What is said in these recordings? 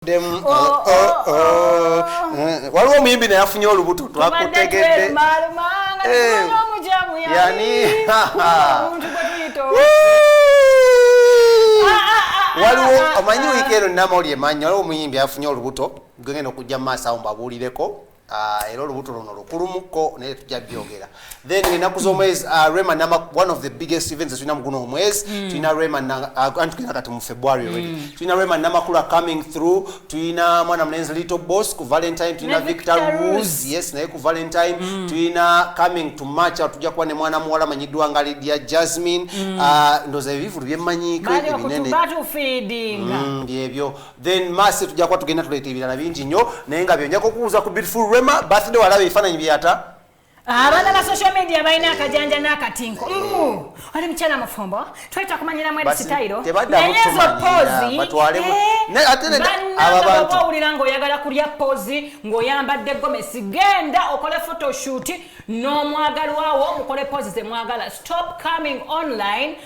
demu oh, oh, oh, oh. oh. Eh, waliwo omuyimbi naye afunye olubuto twakutegedde eh. yani ah, ah, ah, waliwo omanyi wiiki eno namawulire manyi waliwo omuyimbi afunye olubuto gwegenda okujja mu maaso awo mbabuulireko Ah, era olubuto luno lukulumuko naye tujja byogera then enaku zomwezi ah, rema nama one of the biggest events tulina muguno omwezi hmm. tulina rema ah, anti tulina kati mu february already hmm. tulina rema namakula coming through tulina mwana mulenzi little boss ku valentine tulina victor rose yes naye ku valentine hmm. tulina coming to march tujja kuba ne mwana muwala manyiddwa nga lidia jasmine ndoza ebivulu byemmanyiko ebinene byebyo then masi tujja kuba tugenda tuleeta ebirala bingi nnyo naye nga byonja kukubuuza ku beautiful rema birthday walaba ebifaananyi byata abaana ba social media balina akajanja n'akatinko oli mukyala mufumbo tweta kumanyira mweri sitayiro naye ezo poozi bannanga owulira ng'oyagala kulya poozi ng'oyambadde gomesi genda okole photoshoot n'omwagalwawo mukole poozi ze mwagala stop coming online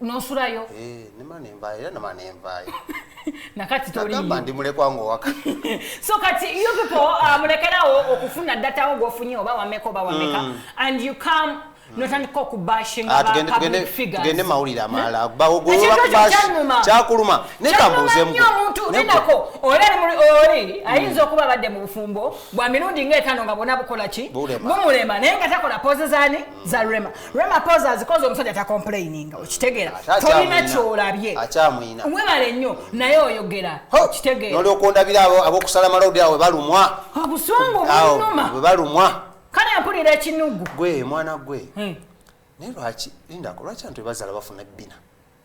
nosulayo eh, nakati toliagamba ndi mulekwa ngowaka so kati you people uh, mulekerawo okufuna datawo gwofunye oba wameka oba wameka mm. and you come notandika okubashingtugende ah, mawulire amalala kyakuluma nekambuuzemuomuntuinako oli ayinza okuba abadde mu bufumbo bwa mirundi ngaetano nga bona bukola ki bumulema naye nga takola poze zani za rema rema poza azikoze omusajja ta complaining okitegeera tolina kyolabye mwebale nnyo naye oyogera okitegeera noli okundabira abo abokusala malodi awe balumwa obusungu bunuma bwe balumwa kale mpulira ekinugu gwe mwana gwe hmm. naye lwaki lindako lwaki antu ebazala bafuna bina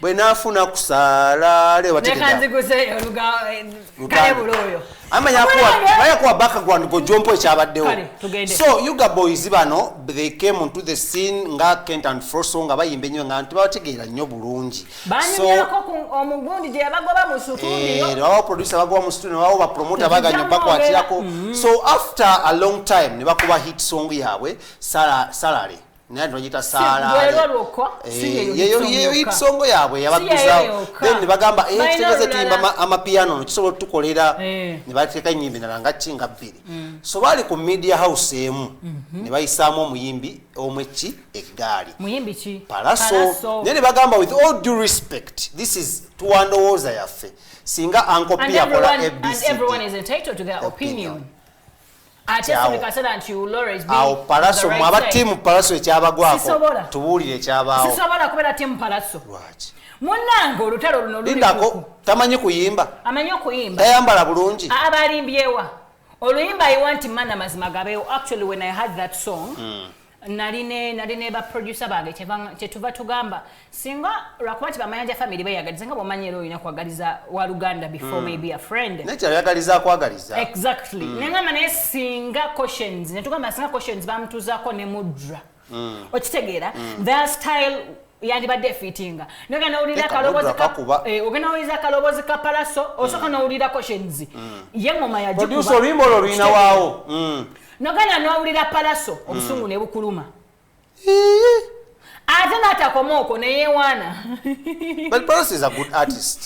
bwe nafuna kusaala leo bategeayakuwa background gojompo ekyabaddewo so uga boys bano they came onto the scene nga kent and froso nga bayimba ennyo nga nti babategeera nnyo bulungi bawo producer bagoba mu studio nebawo bapromota baganyo bakwatirako mm-hmm. so after a long time ne bakuba hit song yaabwe salary naye ati bagiyita saalayeyo yitsongo yaabwe yabaguzawo then nebagamba eh, kitegeze tuyimba amapiyano no kisobola otutukolera eh. nebateeka enyimba endala nga ki nga bbiri mm. so baali ku media house emu mhm. nebayisaamu omuyimbi omwekki eggaali palaso naye nebagamba with all due respect this is tuwandowooza yaffe singa ankopi yakola abc awo palaso mu aba tiimu palaso ekyabagwako tubuulire ekyabaawo sisobola kubeera tiimu palaso lwaki munange olutalo luno lindako tamanyi kuyimba amanyi okuyimba tayambala bulungi abalimbyewa oluyimba i want mana mazima gabeewo actually when i had that song mm. nali ne nali ne ba producer bange kyetuva tugamba singa lwakuba nti bamayanja family beyagaliza nga bwomanyi era olina kwagaliza wa luganda before mm. maybe a friend nekyayagaliza akwagaliza exactly mm. nengamba naye singa questions netugamba singa questions bamutuzako ne mudra mm. okitegeera mm. their style yandibadde efiitinga nogenda nowulira eh, akaloboozi ka palaso osooka mm. nowulirako shenzi mm. ye ngoma yagikuba oluyimba olwo luyina waawo mm. nogenda nowulira palaso obusungu ne bukuluma ate n'atakoma okwo neyewaana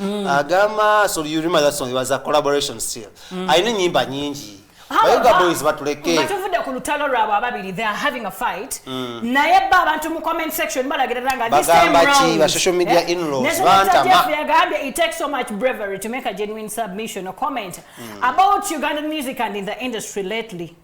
mm. agamba so you remember that song it was a collaboration still mm. alina enyimba nyingi bayoga boys batuleke nga tuvudde ku lutalo lwabwe ababiri they are having a fight mm. naye ba abantu mu comment section balagirira nga this time round bagamba ki ba social media eh? in laws bantama yagambye it takes so much bravery to make a genuine submission or comment mm. about ugandan music and in the industry lately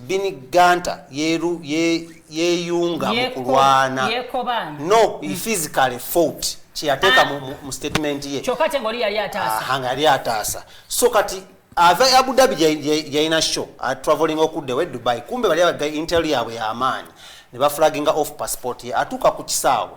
Bin Ganta yeru yeyunga ye mukulwana no he mm. physically fought kyeyateeka ah. mu, mu statement ye kyokka te ngoli yali ataasa ah, nga yali ataasa so kati ava e abu dhabi yalina show ah, traveling okuddewo e dubai kumbe bali abaga intel yaabwe yamaanyi ne bafulaginga off passport ye atuuka ku kisaawe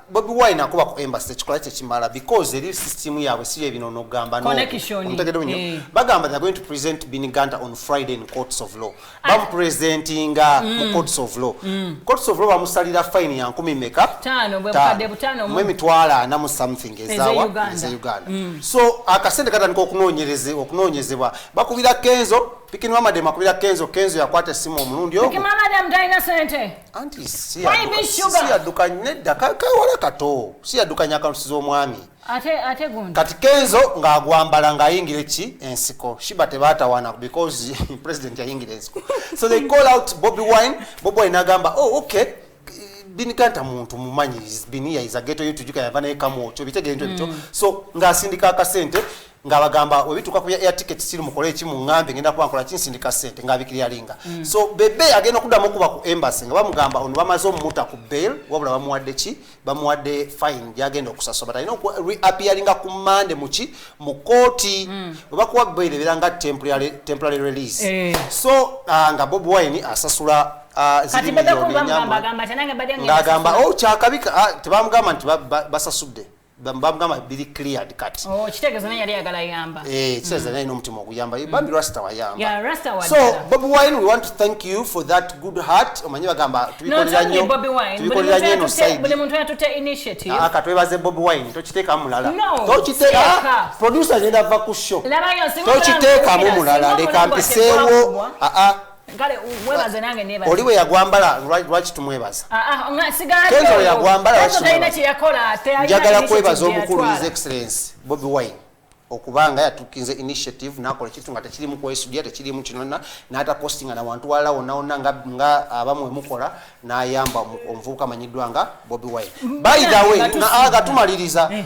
bobi wine akuba ku embassy tekikola kyekimala because eri system yaabwe si yebino nogamba nomutegedeunyo eh. bagamba they're going to present biniganta on friday in courts of law ah. bamupresentinga mu mm. courts of law mm. courts of law bamusalira fine ya nkumi meka mu emitwalo ana mu something ezawa eze uganda mm. so akasente katandika okunoonyezebwa bakubira kenzo pikinwamademu akubira kenzo kenzo yakwata esimu omulundi ogwo anti siyaduka nedda kawala kato siyadukanya akalusi z'omwami kati kenzo ng'agwambala ng'ayingira eki ensiko shiba tebatawana because president yayingira ensiko so they call out bobi wine bobi wine agamba oh okay binikanta muntu mumanyi biniya is a ghetto you tujuka yava naye kamu ocho bitegere nto bityo mm. so ng'asindika akasente nga bagamba webituka ku air ticket siri mukole ki mungambe ngenda kuba nkola kinsindika sente nga bikiriya linga mm. so bebe agenda kudamu kuba ku embassy nga bamugamba ono bamaze omuta ku bail wabula bamuwadde ki bamuwadde fine yagenda okusasoma talina oku reappearinga ku mande muki mu kooti mm. webakuwa bail ebera nga temporary, temporary release eh. so uh, nga bob wine asasula Ah, ng'agamba o oh, kyakabika ah, tebamugamba nti basasudde bamugamba biri cleared kati oh, kitegeeza naye yali ayagala yamba eh, kitegeeza naye n'omutima oguyamba mm. bambi rasta wayamba so bobi wine we want to thank you for that good heart omanyi bagamba tubikolera nnyo tubikolera nnyo eno side muntu yatutte initiative ah, aka twebaze bobi wine tokiteeka mulala tokiteeka ah, producer agenda va ku show tokiteekamu mulala leka mpiseewo aa ah, kale mwebaze nange nebaze oli we yagwambala lwaki tumwebaza ah, ah, nga sigala kenzo we yagwambala lwaki tumwebaza kye yakola ate ayina njagala kwebaza omukulu his excellence bobi wine okubanga yatukinze initiative nakola ekintu nga tekirimu kwesudia tekirimu kinona natapostinga na wantu walala wonaona nga, nga abamu wemukola nayamba omuvubuka amanyiddwa nga bobi wine by the way nga tumaliriza eh.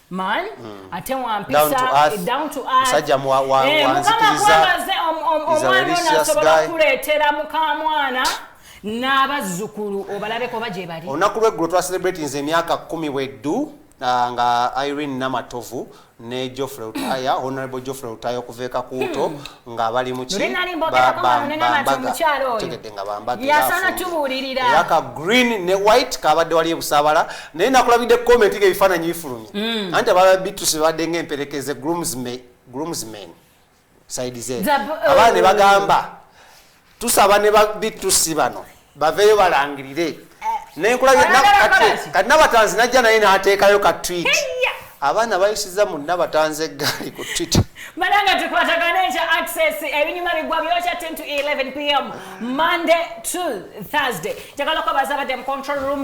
man mm. ate wampisa eh, down to earthmusajja eh, wanzikirizaomwana ono asobola okukuleetera mukamwana n'abazzukulu obalabeko oba gye bali olunaku lweggulo twacelebratinze emyaka kumi bweddu ah, nga irene namatovu ne Geoffrey Utaya honorable Geoffrey Utaya okuva ekakuuto hmm. nga bali mu ki tegedde nga bambageyasana tubuulirira era ka green ne white kabadde wali ebusaabala naye nakulabidde comment nga ebifaananyi bifulumye mm. anti ababa bituse babadde nga emperekeze groomsmen side ze oh. abaana ne bagamba tusaba ne ba bitusi bano baveeyo balangirire kati nabatanzi najja naye nateekayo ka twit abaana bayisiza mu nabatanzi eggaali ku twit bananga tukwatagana ekya access ebinyuma bigwa byokya 10 to 11 pm monday to thursday njagala kubaza badde mu control room